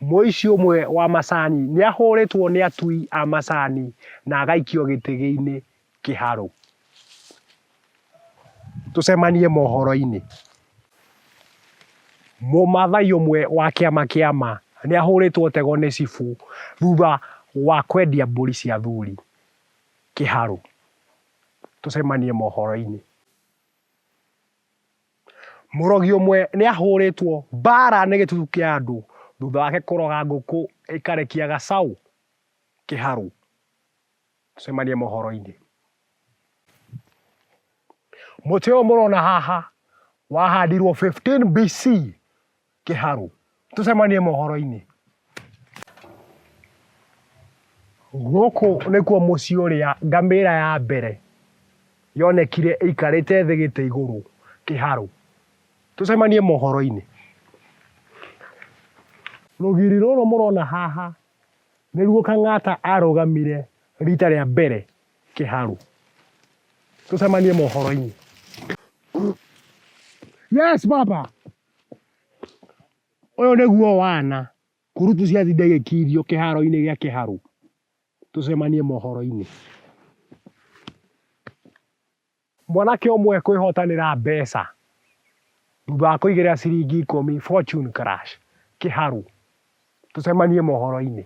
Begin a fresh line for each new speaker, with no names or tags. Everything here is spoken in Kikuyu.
Mũici ũmwe wa macani nĩ ahũrĩtwo nĩ atui a macani na agaikio gĩtege-inĩ kĩharũ. Tũcemanie mohoro-inĩ. Mũmathai ũmwe wa kĩama kĩa ma nĩ ahũrĩtwo tego nĩ cibũ thutha wa kwendia mbũri cia athuri kĩharũ. Tũcemanie mohoro-inĩ. Mũrogi ũmwe nĩ ahũrĩtwo mbaara nĩ gĩtutu kĩa andũ thutha wake kũroga ngũkũ ĩkarekia gacaũ kĩharũ. Tũcemanie mohoro-inĩ. Mũtĩ ũyũ mũrona haha wahandirwo 15 BC Kĩharũ. Tũcemanie mohoro-inĩ. Gũkũ nĩkuo mũciĩ ũrĩa ngamĩra ya mbere yonekire ĩikarĩte thĩ gĩtĩ igũrũ. Kĩharũ. Tũcemanie mohoro-inĩ. Rũgiri rũrũ mũrona haha nĩruo Kang'ata arũgamire rita rĩa mbere. Kĩharũ. Tũcemanie mohoro-inĩ. Yes baba. Ũyũ nĩguo wana, kurutu ciatinda igĩkirio kĩharo-inĩ gĩa kĩharũ. Tũcemanie mohoro-inĩ. Mwanake ũmwe ekwĩhotanĩra mbeca thutha wa kũigĩra ciringi ikũmi Fortune Crush kĩharũ. Tũcemanie mohoro-inĩ.